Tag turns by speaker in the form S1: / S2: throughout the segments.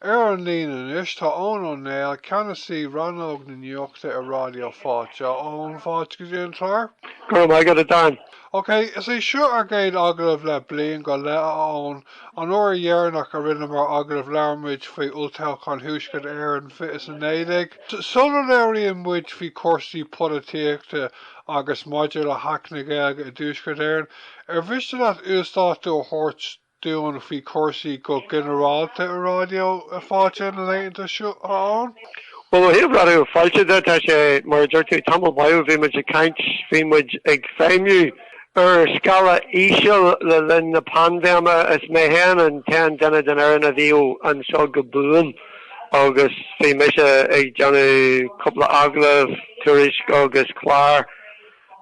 S1: Ar an líne anois tá Eoin Ó Néill, Ceannasaí Rannóg na Nuachta i Ráidió Fáilte. A Eoin, fáilte go dtí an clár. Go raibh maith agat, a Dan. Ok, is é seo ár gcéad agallamh le bliain go leith, a Eoin. An uair dheireanach a rinneamar agallamh labhair muid faoi Olltoghchán Thuaisceart Éireann fiche is a naoi déag. Sula labhraíonn muid faoi chúrsaí polaitíochta agus maidir le hAcht na Gaeilge i dTuaisceart Éireann, ar mhiste leat uasdátú a thabhairt dúinn faoi chúrsaí go ginearálta i Ráidió Fáilte na laethanta seo, a Eoin? Bhuel, ó thaobh Raidió Fáilte de, tá sé, mar a dúirt tú, tamall maith ó bhí muid ag caint, bhí muid ag feidhmiú ar scála íseal le linn na paindéime, is mé féin an t-aon duine den fhoireann a bhí anseo go buan agus bhí mise ag déanamh cúpla agallamh, tuairisc agus clár.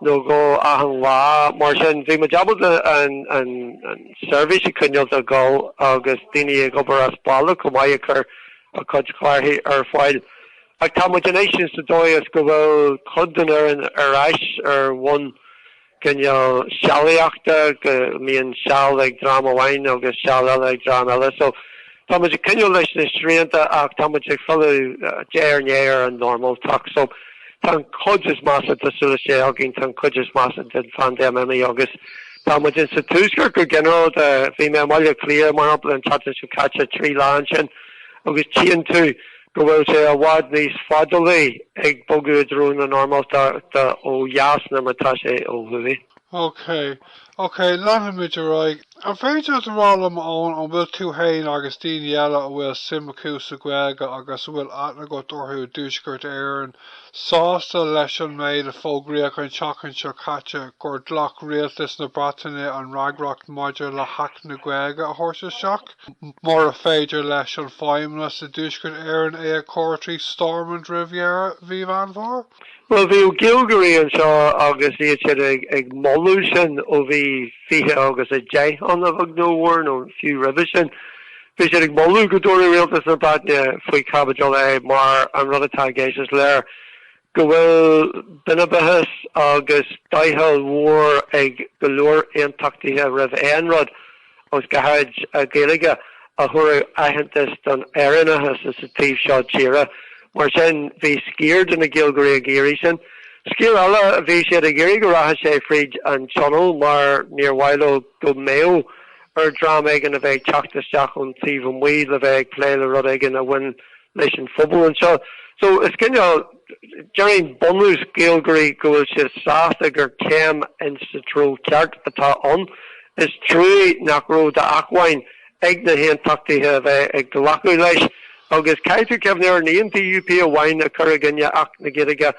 S1: nó dhó achan lá. Mar sin, bhí muid ábalta an seirbhís a choinneáil ag gabháil agus daoine ag obair as baile chomh maith ag cur a gcuid clárthaí ar fáil. Ach tá muid anois sa dóigh is go bhfuil cuid den fhoireann ar ais ar bhonn cineál sealaíochta, go mbíonn seal ag dream amháin agus seal eile ag dream eile. So Táimid ag coinneáil leis na srianta ach táimid ag filleadh de réir a chéile ar an normáltacht. So tá an chuid is measa tá súil is Dé againn, tá an chuid is measa den phaindéim imithe agus táimid ins an Tuaisceart go ginearálta. Bhí mé i mBaile Átha Cliath mar shampla an tseachtain seo caite, trí lá ansin agus tchíonn tú go bhfuil sé i bhfad níos fadálaí ag bogadh i dtreo na normáltachta ó dheas ná mar atá sé ó thuaidh. Okay. Okay, leanfaimid ar aghaidh. An féidir leat a rá liom, a Eoin, an bhfuil tú fhéin agus daoine eile a bhfuil suim acu sa Ghaeilge agus a bhfuil aithne agat orthu i dTuaisceart Éireann, sásta leis an méid a fógraíodh an tseachtain seo caite gur ghlac Rialtas na Breataine an fhreagracht maidir le hAcht na Gaeilge a thabhairt isteach, mura féidir leis an Feidhmeannas i dTuaisceart Éireann é a chur trí Stormont roimh dheireadh mhí Mheán Fómhair? Bhuel, bhí Gaeilgeoirí anseo agus bhí siad ag moladh sin ó bhí fiche agus a deich ann a bheag nó a mhór, nó fiú roimhe sin. Bhí siad ag moladh go dtabharfadh Rialtas na Breataine faoi chaibidil é mar an rud atá i gceist is léir go bhfuil binibeachas agus doicheall mór ag go leor Aontachtaithe roimh aon rud agus go háirid an Ghaeilge a thabharfadh aitheantas don Éireannachas sa taobh seo tíre. Mar sin, bhí sciar de na Gaeilgeoirí ag iarraidh sin. Sciar eile, bhí siad ag iarraidh go rachadh sé fríd an Tionól mar níor mhaith leo go mbeadh ar dhream éigin a bheith ag teacht isteach ón taobh amuigh le bheith ag plé le rud éigin a bhain leis an phobal anseo. So, is cineál, déarfainn bunús Gaeilgeoirí go bhfuil siad sásta gur céim ins sa treo ceart atá ann. Is truagh nach raibh d'achmhainn ag na hAontachtaithe a bheith ag glacadh leis. Agus caithfidh tú cuimhneamh ar, ní an DUP amháin a chuir i gcoinne Acht na Gaeilge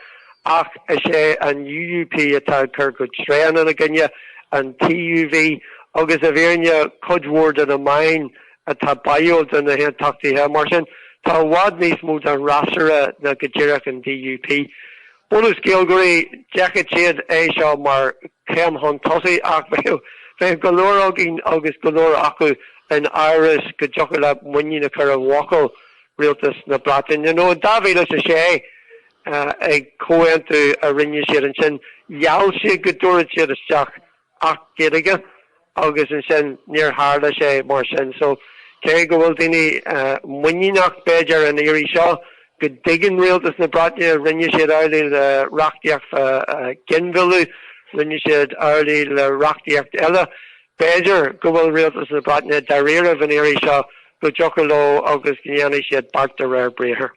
S1: ach is é an UUP atá ag cur go tréan ina gcoinne, an TUV agus i bhfírinne cuid mhór de na meáin atá báúil do na hAontachtaithe. Mar sin, tá i bhfad níos mó den fhreasúra ná go díreach an DUP. Bunús Gaeilgeoirí, d'fheicfeadh siad é seo mar chéim chun tosaigh ach bheadh go leor againn agus go leor acu in amhras go dtiocfadh leat muinín a chur i bhfocal Rialtas na Breataine nó i 2006 ag comhaontú a rinne siad ansin gheall siad go dtabharfadh siad isteach Acht Gaeilge agus ansin níor tharla sé mar sin. So cé go bhfuil daoine muiníneach b'fhéidir an iarraidh seo go dtuigeann Rialtas na Breataine rinne siad amhlaidh le reachtaíocht fá ghinmhilleadh, rinne siad amhlaidh le reachtaíocht eile, b'fhéidir go bhfuil Rialtas na Breataine dáiríribh an iarraidh seo go dtiocfadh leo agus go ndéanfadh siad beart de réir briathar.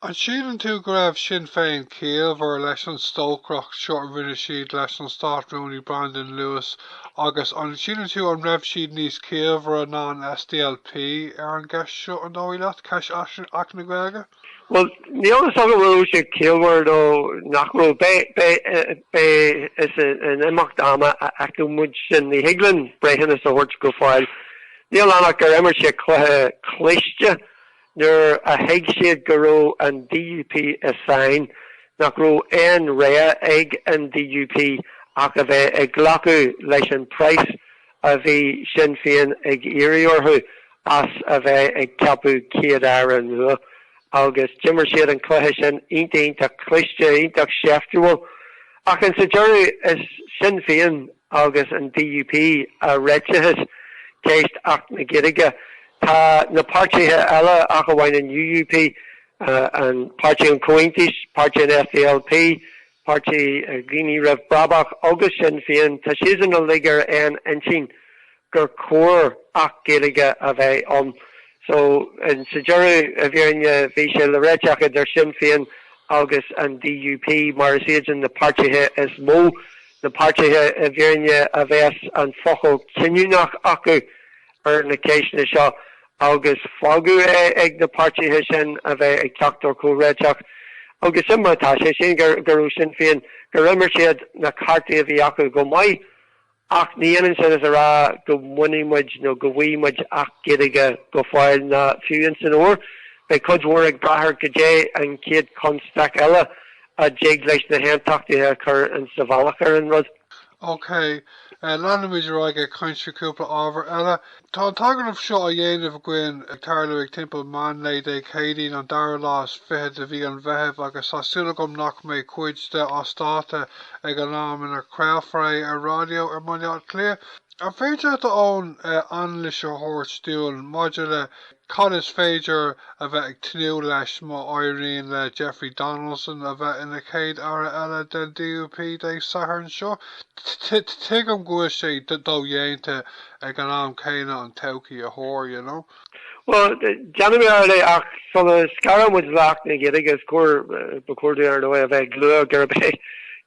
S1: An síleann tú go raibh Sinn Féin ciallmhar leis an stocaireacht seo a rinne siad leis an Stát-Rúnaí Brandon Lewis agus an síleann tú an raibh siad níos ciallmhaire ná an SDLP ar an gceist seo, an dóigh leat, ceist Acht na Gaeilge? Bhuel, níl a fhios agam an raibh siad ciallmhar nó nach raibh. B'fhéidir is in imeacht ama a fheicfidh muid sin. Ní thig linn breithiúnas a thabhairt go fóill. Níl ann ach gur imir siad cluiche cliste. Nuair a thuig siad go raibh an DUP i sáinn, nach raibh aon rogha ag an DUP ach a bheith ag glacadh leis an price a bhí Sinn Féin ag iarraidh orthu as a bheith ag ceapadh Céad-Aire nua. Agus d'imir siad an cluiche sin iontach, iontach cliste, iontach seiftiúil. Ach insa deireadh is Sinn Féin agus an DUP a réititheas ceist Acht na Gaeilge. Tá na páirtithe eile, ach amháin an UUP, Páirtí an Chomhaontais, Páirtí an SDLP, Páirtí Dhaoine Roimh Brabach agus Sinn Féin, tá siadsan uilig ar aon intinn gur cóir Acht Gaeilge a bheith ann. So, sa deireadh, i bhfírinne, bhí sé le réiteach idir Sinn Féin agus an DUP mar is iadsan na páirtithe is mó, na páirtithe, i bhfírinne, a bheas an focal cinniúnach acu ar na ceisteanna seo agus fágadh é ag na páirtithe sin a bheith ag teacht ar chomhréiteach. Agus sin mar atá sé. Sin go raibh Sinn Féin, gur imir siad na cártaí a bhí acu go maith. Ach ní h-ionann sin is a rá go mbainfidh muid nó go bhfuighidh muid Acht Gaeilge go fóill ná fiú ins an fhómhar. Beidh cuid mhór ag brath ar goidé an chéad chonstaic eile a dtig le na hAontachtaithe a chur insa bhealach ar an rud. OK. Leanfaimid ar aghaidh ag caint faoi chúpla ábhar eile. Tá an t-agallamh seo á dhéanamh againn ag tarlú ag timpeall meán lae Dé Céadaoin an dara lá is fiche de mhí an Mheithimh agus tá súil agam nach mbeidh cuid de seo as dáta ag an am ina chraolfar é ar ráidió i mBaile Átha Cliath. An féidir leat do anailís a thabhairt dúinn maidir le. Cad is féidir a bheith ag tnúth leis má éiríonn le Jeffrey Donaldson a bheith ina Chéad Aire eile den DUP Dé Sathairn seo? Tuigim go bhfuil sé dodhéanta ag an am céanna an todhchaí a thuar, you know. Bhuel, déanfaidh mé ar ball é, ach sula scarann muid le hAcht na Gaeilge is cóir, ba chóir dúinn, ar ndóigh, a bheith ag lua gurb é,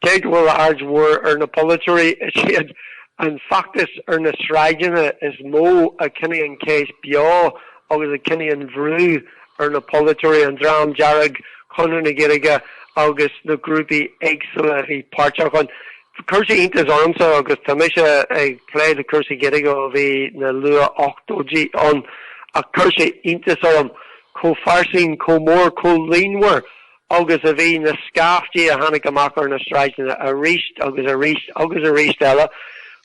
S1: cé go bhfuil aird mhór ar na polaiteoirí, is iad An feachtas ar na sráideanna is mó a choinnigh an cheist beo agus a choinnigh an brú ar na polaiteoirí, an Dream Dearg, Conradh na Gaeilge agus na grúpaí éagsúla a bhí páirteach ann. Chuir sé iontas ormsa agus tá mise ag plé le cúrsaí Gaeilge ó bhí na luath-ochtóidí ann, ach chuir sé iontas orm chomh fairsing, chomh mór, chomh líonmhar agus a bhí na scaiftí a tháinig amach ar na sráideanna aríst agus aríst agus aríst eile,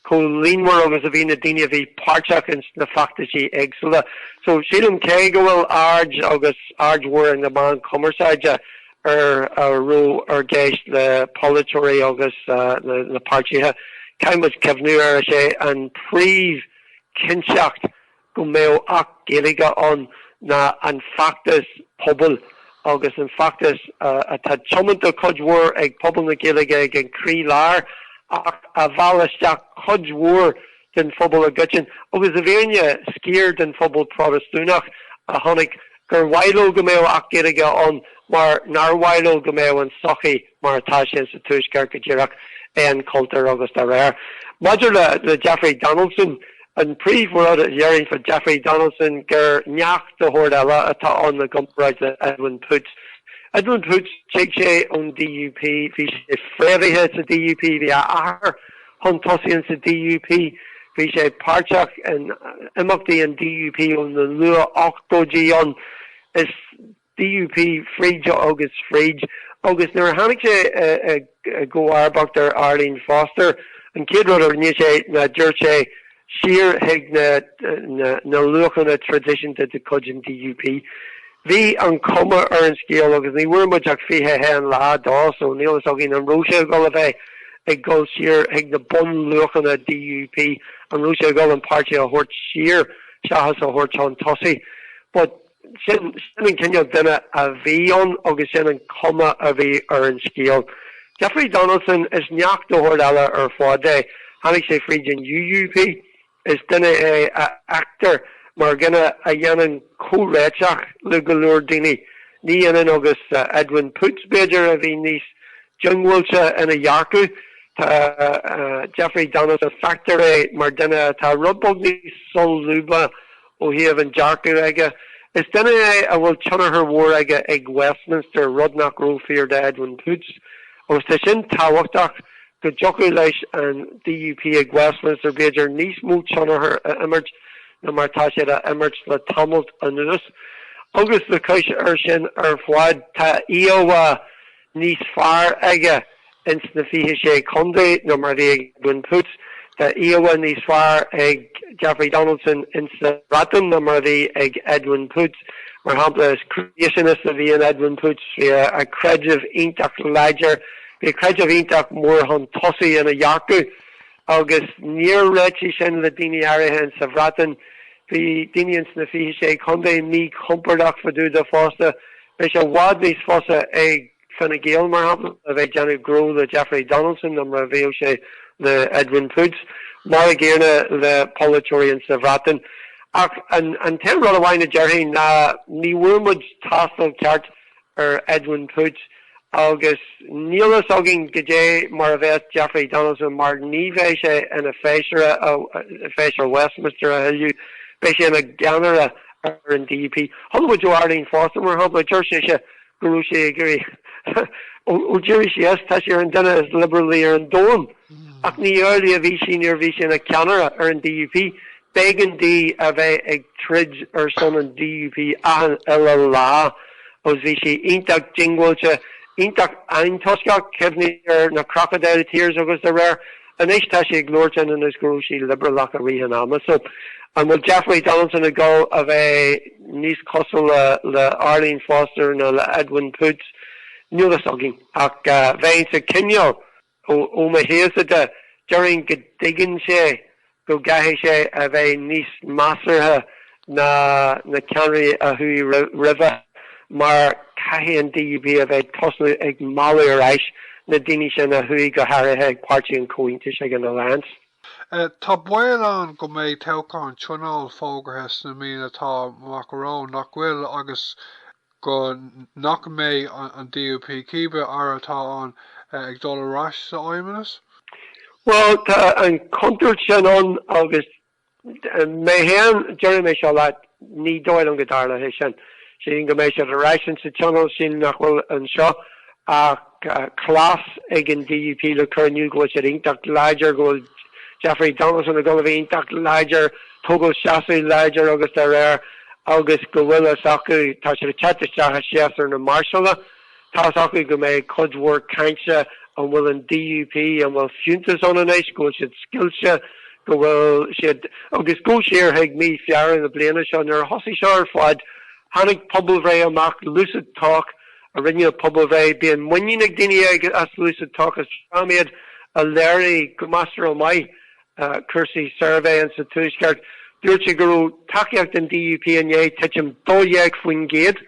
S1: chomh líonmhar agus a bhí na daoine a bhí páirteach ins na feachtaisí éagsúla. So, sílim, cé go bhfuil aird agus aird mhór ag na meáin chumarsáide ar a raibh i gceist le polaiteoirí agus na páirtithe, caithfidh muid cuimhniú air, is é an príomh chinnteacht go mbeadh Acht Gaeilge ann ná an feachtas pobail agus an feachtas atá tiomanta cuid mhór ag pobal na Gaeilge, ag an croí lár, ach a mheall isteach cuid mhór den phobal i gcoitinne agus i bhfírinne sciar den phobal Protastúnach a chonaic gur mhaith leo go mbeadh Acht Gaeilge ann mar nár mhaith leo go mbeadh an sochaí mar atá sé sa Tuaisceart go díreach, aon chultúr agus dá réir. Maidir le Jeffrey Donaldson, an príomhrud a déarfainn fá Jeffrey Donaldson gur neach de shórt eile atá ann i gcomparáid le Edwin Poots. Edwin Poots, tig sé ón DUP, bhí sé fréamhaithe sa DUP, bhí a athair chun tosaigh ins an DUP, bhí sé páirteach in imeachtaí an DUP ó na luath-ochtóidí ann. Is. DUP fríd agus fríd agus nuair a tháinig sé i gcomharbas ar Arlene Foster, an chéad rud a rinne sé ná dúirt sé siar chuig na luachanna traidisiúnta de chuid an DUP. Bhí an chuma ar an scéal, agus ní bhfuair muid ach 21 lá de so níl fhios againn an raibh sé ag dul a bheith ag dul siar chuig na bunluachanna DUP, an raibh sé ag dul an páirtí a thabhairt siar seachas a thabhairt chun tosaigh. But. Sin an cineál duine a bhí ann agus sin an chuma a bhí ar an scéal. Jeffrey Donaldson, is neach eile ar fad é. Tháinig sé fríd an UUP. Is duine é a fheictear mar duine a dhéanann comhréiteach le go leor daoine. Ní ionann agus Edwin Poots, b'fhéidir, a bhí níos diongbháilte ina dhearcadh. Tá Jeffrey Donaldson, feictear é mar duine atá rud beag níos solúbtha Ó thaobh an dearcaidh aige, is duine é a bhfuil tionchar mhór aige ag Westminster, rud nach raibh fíor do Edwin Poots, agus tá sin tábhachtach, go dtiocfadh leis an DUP ag Westminster b'fhéidir níos mó tionchar a imirt ná mar tá siad á imirt le tamallt anuas. Agus le cois air sin ar fad, tá íomhá, níos fearr aige ins na fiche sé contae ná mar a bhí ag Edwin Poots. Tá íomhá níos fearr ag Jeffrey Donaldson ins sa Bhreatain ná mar a bhí ag Edwin Poots. Mar shampla, is creationist a bhí in Edwin Poots. Bhí a chreideamh iontach láidir. Bhí a chreideamh iontach mór chun tosaigh ina dhearcadh. Agus níor réitigh sin le daoine áirithe ins sa Bhreatain. Bhí daoine ins na Fiche Sé Chontae mí-chompordach fá dtaobh dó fosta. Bhí sé i bhfad níos fusa ag Fine Gael, mar shampla, bheith ag déanamh gnó le Jeffrey Donaldson ná mar a bheadh sé le Edwin Poots. Mar a gcéanna le polaiteoirí ins sa Bhreatain. Ach an t-aon rud amháin a déarfainn ná ní bhfuair muid tástáil ceart ar Edwin Poots agus níl fhios againn caidé mar a bheas Jeffrey Donaldson mar ní bheidh sé ina fheisire, feisire Westminster a thuilleadh, beidh sé ina cheannaire ar an DUP. Chuala muid ó Arlene Foster mar shampla, dúirt sise go raibh sí ag iarraidh ó d'éirigh sí as tá sí ar an duine is liobrálaí ar an domhan ach ní amhlaidh a bhí sí nuair a bhí sí ina ceannaire ar an DUP. B'éigean di a bheith ag troid ar son an DUP achan uile lá agus bhí sí iontach diongbháilte, iontach antoisceach, cuimhnigh ar na Crocodile Tears agus araile. Anois tá sí ag labhairt ionann is go raibh sí liobrálach i rith an ama. So an bhfuil Jeffrey Donaldson ag dul a bheith níos cosúla le Arlene Foster nó le Edwin Poots? Níl fhios againn ach bheinnse cineál. Ó mo thaobhsa de, déarfainn go dtuigeann sé go gcaithfidh sé a bheith níos measartha ná na ceannairí a chuaigh roimhe mar caithfidh an DUP a bheith ag tosú ag mealladh ar ais na daoine sin a chuaigh go háirithe ag Páirtí an Chomhaontais, ag an Alliance. Tá baol ann go mbeidh toghchán Tionóil fógartha sna míonna atá amach romhainn, nach bhfuil? Agus. go nach mbeidh an DUP, cibé Aire atá ann, ag dul ar ais sa fheidhmeannas? Bhuel, tá an chontúirt sin ann agus mé féin, déarfaidh mé seo leat, ní dóigh liom go dtarlóidh sé sin. Sílim go mbeidh siad ar ais insa tionól, sílim nach bhfuil anseo ach. cleas ag an DUP le cur in iúl go bhfuil siad iontach láidir, go bhfuil Jeffrey Donaldson, ag gabháil a bheith iontach láidir, ag tógáil seasamh láidir agus dá réir agus go bhfuil a fhios acu, tá siad ag teacht isteach i séasúr na máirseála, tá a fhios acu go mbeidh cuid mhór cainte an bhfuil an DUP, an bhfuil fiúntas ann anois, go bhfuil siad scoilte, go bhfuil siad, agus go siar chuig mí Feabhra na bliana seo nuair a thosaigh seo ar fad, tháinig pobalbhreith amach, LucidTalk, a rinne an phobalbhreith. Bíonn muinín ag daoine as LucidTalk, is iad a léirigh go measartha maith cúrsaí suirbhéanna sa Tuaisceart, dúirt sé go raibh tacaíocht an DUP i ndiaidh titim 12%,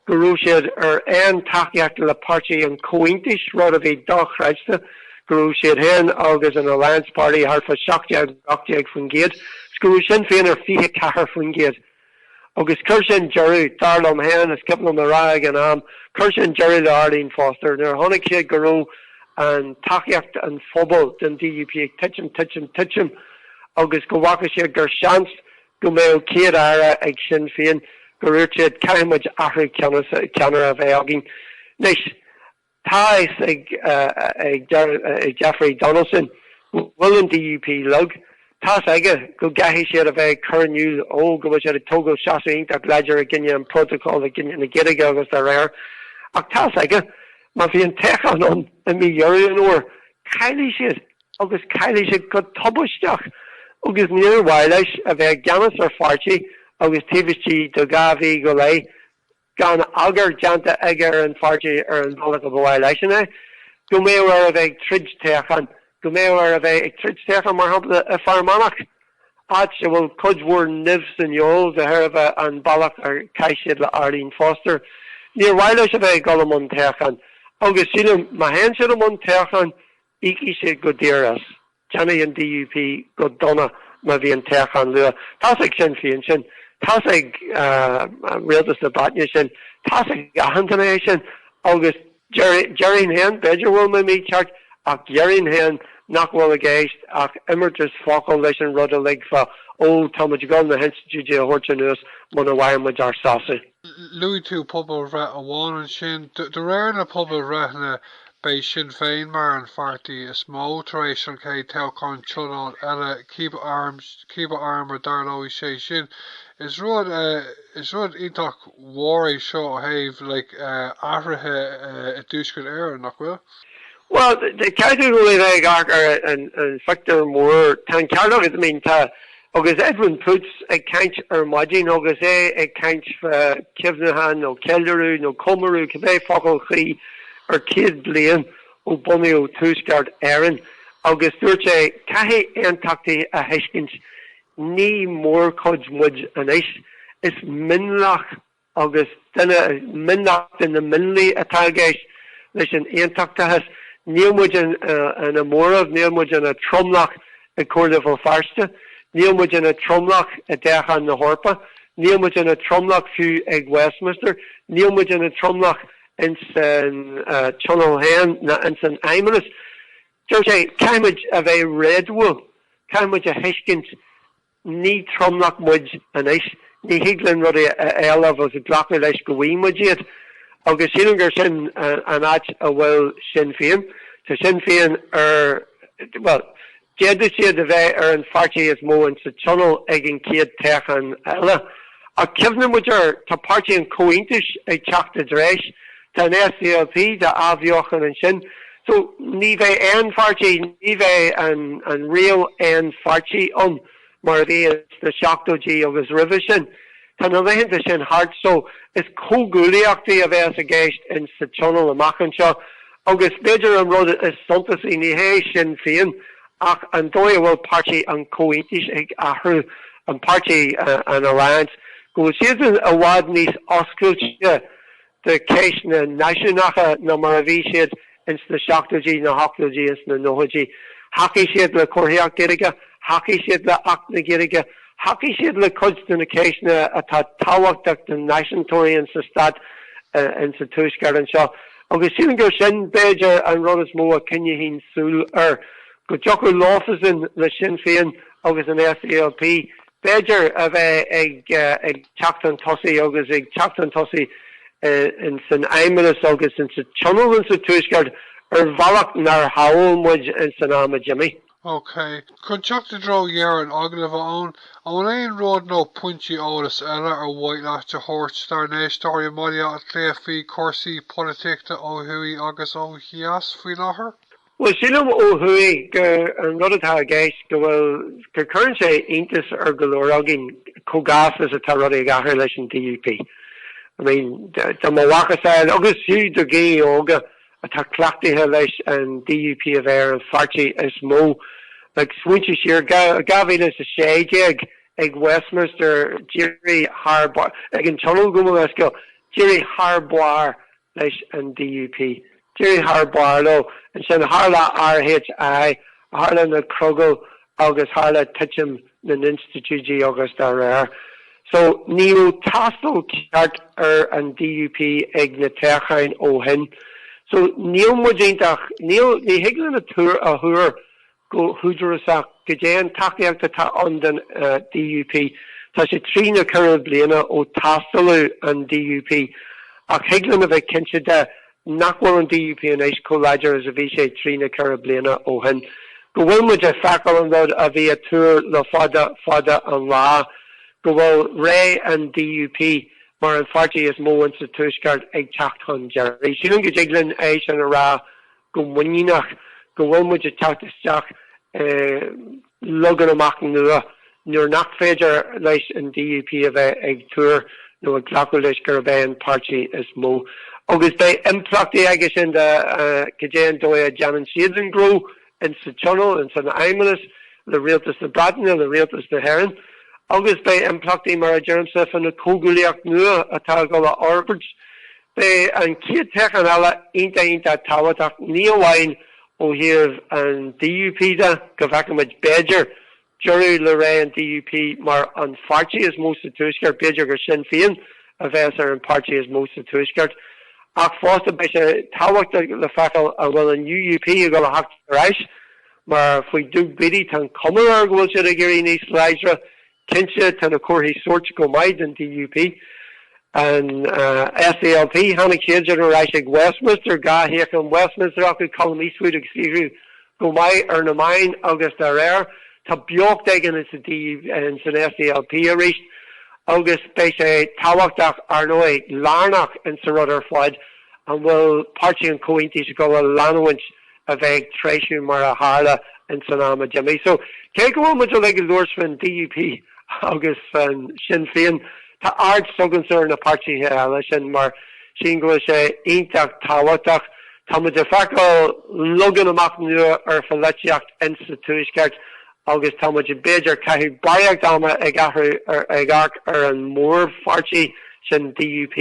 S1: go raibh siad ar aon tacaíocht le páirtí an Chomhaontais, rud a bhí dochreidte, go raibh siad féin agus an Alliance Party thart fá 17, 18%, is go raibh Sinn Féin ar 24%. Agus chuir sin deireadh, dar liom féin, is cuimhin liom a rá ag an am, chuir sin deireadh le Arlene Foster. Nuair a chonaic siad go raibh an tacaíocht an phobail don DUP ag titim, titim, titim agus go bhfaca siad gur seans go mbeadh Céad Aire ag Sinn Féin, gur dhúirt siad, caithfimid athrú ceannaire a bheith againn. Anois. Tá a fhios ag Jeffrey Donaldson go bhfuil an DUP lag. Tá a fhios aige go gcaithfidh siad a bheith ag cur in iúl go bhfuil siad ag tógáil seasamh iontach láidir i gcoinne an Phrótacail, i gcoinne na Gaeilge agus dá réir. Ach tá a fhios aige má bhíonn an toghchán ann i mí Dheireadh an Fhómhair, caillfidh siad agus caillfidh siad go tubaisteach. Agus níor mhaith leis a bheith i gceannas ar pháirtí agus taobh istigh de dhá mhí go leith, gan eagar déanta aige ar an pháirtí ar an bhealach a ba mhaith leisean é, go mbeadh air a bheith ag troid toghcháin, go mbeadh air a bheith ag troid toghcháin, mar shampla, i bhFear Manach, áit a bhfuil cuid mhór nimh san fheoil de thairbhe an bealach ar chaith siad le Arlene Foster. Níor mhaith leis a bheith ag dul i mbun toghcháin, agus sílim má théann siad i mbun toghcháin, íocfaidh siad go daor as. Déanfaidh an DUP go dona má bhíonn toghchán luath. Tá's ag Sinn Féin sin. Tá's ag Rialtas na Breataine sin. Tá's ag achan duine é sin. Agus déarfainn fhéin, b'fhéidir a bhfuil mé mícheart, ach déarfainn fhéin nach bhfuil i gceist ach imeartas focal leis an rud a ligfeadh, ó, tá muid ag gabháil na hinstitiúidí a thabhairt anuas muna bhfaigheann muid ár sásamh. Luaigh tú pobalbhreith amháin ansin. De réir na pobalbhreitheanna beidh Sinn Féin mar an pháirtí is mó tar éis an chéad toghchán tionóil eile, cibé am a dtarlóidh sé sin. Is rud is rud iontach mhór é seo ó thaobh like athruithe i dTuaisceart Éireann, nach bhfuil? Bhuel, ceart ar bheith ag amharc ar an phictiúr mór, tá an ceart agat, I mean tá, Agus Edwin Poots ag caint ar maidin, agus é ag caint fá chuimhneachán nó ceiliúradh nó comóradh, cibé focal chuí, ar 100 bliain ó bunaíodh Tuaisceart Éireann, agus dúirt sé, caithfidh Aontachtaithe a thuiscint, ní mórchuid muid anois, is mionlach agus duine is mionlach de na mionlaigh atá i gceist leis an Aontachtachas, níl muid ina móramh, níl muid ina tromlach i gComhairle Bhéal Feirste, níl muid ina tromlach i dtoghcháin na hEorpa, níl muid ina tromlach fiú ag Westminster, níl muid ina tromlach ins an Tionól féin ná ins an Fheidhmeannas. Dúirt sé, caithfidh muid a bheith réadúil, caithfidh muid a thuiscint, Ní tromlach muid anois. Ní thig linn rudaí a éileamh agus glacadh leis go bhfaighidh muid iad. Agus sílim gur sin an áit a bhfuil Sinn Féin. Tá Sinn Féin ar, bhuel, d'fhéadfadh siad a bheith ar an pháirtí is mó insa Tionól ag an chéad toghchán eile. Ach cuimhníodh muid air, tá Páirtí an Chomhaontais ag teacht i dtreis, tá an SDLP dá athbheochan ansin, so ní bheidh aon pháirtí, ní bheidh an riail aon pháirtí ann mar a bhí sna seachtóidí agus roimhe sin. Tá na laethanta sin thart so is comhghuaillíochtaí a bheas i gceist ins sa Tionól amach anseo Agus b'fhéidir an rud is suntasaí, ní hé Sinn Féin, ach an dóigh a bhfuil Páirtí an Chomhaontais ag athrú, an páirtí, an Alliance, go bhfuil siadsan i bhfad níos oscailte do cheisteanna náisiúnacha ná mar a bhí siad ins na seachtóidí, na hochtóidí is na nóchaidí. Thacaigh siad le comharthaíocht Ghaeilge, thacaigh siad le Acht na Gaeilge, thacaigh siad le cuid de na ceisteanna atá tábhachtach do náisiúntóirí insa Stát insa Tuaisceart anseo. Agus sílim gur sin, b'fhéidir, an rud is mó a choinneoinn súil air, go dtiocfadh leofasan, le Sinn Féin agus an SDLP, b'fhéidir, a bheith ag teacht 'un tosaigh agus ag teacht 'un tosaigh ins an Fheidhmeannas agus ins an Tionól ins an Tuaisceart ar bhealach nár shamhail muid ins an am a d'imigh. OK. Chun teacht i dtreo dheireadh an agallaimh, a Eoin, an bhfuil aon rud nó pointí eolais eile ar mhaith leat a thabhairt dár n-éisteoirí i mBaile Átha Cliath faoi chúrsaí polaitíochta ó thuaidh agus ó dheas faoi láthair? Bhuel, sílim ó thuaidh gur an rud atá i gceist go bhfuil, go gcuireann sé iontas ar go leor againn chomh gasta is atá rudaí ag athrú leis an DUP. I mean, do mo mhacasamhail agus fiú do Ghaeil óga, atá cleachtaithe leis an DUP a bheith ar an pháirtí is mó ag smaointiú siar. 2016 ag Westminster, d'éirigh thar barr, ag an Tionól gabh mo leithscéal, d'éirigh thar barr leis an DUP. D'éirigh thar barr leo. Ansin tharla RHI, tharla na crogaill agus tharla titim na n-institiúidí agus dá réir so, ní raibh tástáil cheart ar an DUP ag na toghcháin ó shin. So, níl muid iontach, níl, ní thig linn a tuar, a thuar go húdarasach goidé an tacaíocht atá ann don DUP. Tá sé trí nó ceithre bliana ó tástáladh an DUP ach thig linn a bheith cinnte de Nach bhfuil an DUP anois chomh láidir is a bhí sé trí nó ceithre bliana ó shin. Go bhfuil muid ag feiceáil an rud a bhí á thuar le fada fada an lá, go bhfuil ré an DUP mar an pháirtí is mó insa Tuaisceart ag teacht chun deiridh. Sílim go dtig linn é sin a rá go muiníneach, go bhfuil muid ag teacht isteach i. lagún iomlán nua nuair nach féidir leis an DUP a bheith ag tuar nó ag glacadh leis gurb é an páirtí is mó agus beidh impleachtaí aige sin do cad é an dóigh a dhéanann siadsan gnó insa Tionól, ins an Fheidhmeannas, le Rialtas na Breataine, le Rialtas na hÉireann agus beidh impleachtaí mar a deirimse fá na comhghuaillíochtaí nua atá a dhul a fhorbairt. Beidh an chéad toghchán eile iontach iontach tábhachtach ní amháin Ó thaobh an DUP de, go bhfeicimid, b'fhéidir, deireadh le ré an DUP mar an pháirtí is mó sa Tuaisceart, b'fhéidir gur Sinn Féin a bheas ar an pháirtí is mó sa Tuaisceart. Ach fosta beidh sé tábhachtach le feiceáil an bhfuil an UUP ag dul a theacht ar ais mar faoi Doug Beattie tá an chuma air go bhfuil siad ag éirí níos láidre Cinnte tá na comharthaí sóirt go maith don DUP. An SDLP, tháinig siadsan ar ais ag Westminster, dhá shuíochán Westminster acu, Colum Eastwood ag saothrú go maith ar na meáin agus dá réir, tá beocht éigin insa DUP, insan SDLP arís. Agus beidh sé tábhachtach, ar ndóigh, lárnach insa rud ar fad, an bhfuil Páirtí an Chomhaontais ag dul a leanúint, a bheith ag treisiú mar a tharla ins an am a d'imigh. So cé go bhfuil muid uilig ag labhairt faoin DUP agus faoi Sinn Féin tá aird s'againne ar na páirtithe eile sin mar sin go bhfuil sé iontach tábhachtach. Tá muid ag feiceáil leagan amach nua ar pholaitíocht insa Tuaisceart agus tá muid b'fhéidir ag caitheamh barraíocht ama ag athrú ar ag amharc ar an mórpháirtí sin DUP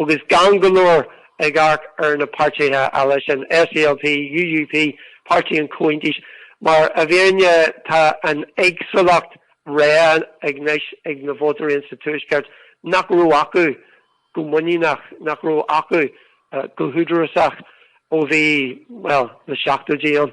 S1: agus gan go leor ag amharc ar na páirtithe eile sin, SDLP, UUP, Páirtí an Chomhaontais, mar i bhfírinne tá an éagsúlacht rogha anois ag na vótóirí ins an Tuaisceart nach raibh acu go muiníneach, nach raibh acu go húdarásach ó bhí, bhuel, na seachtóidí ann.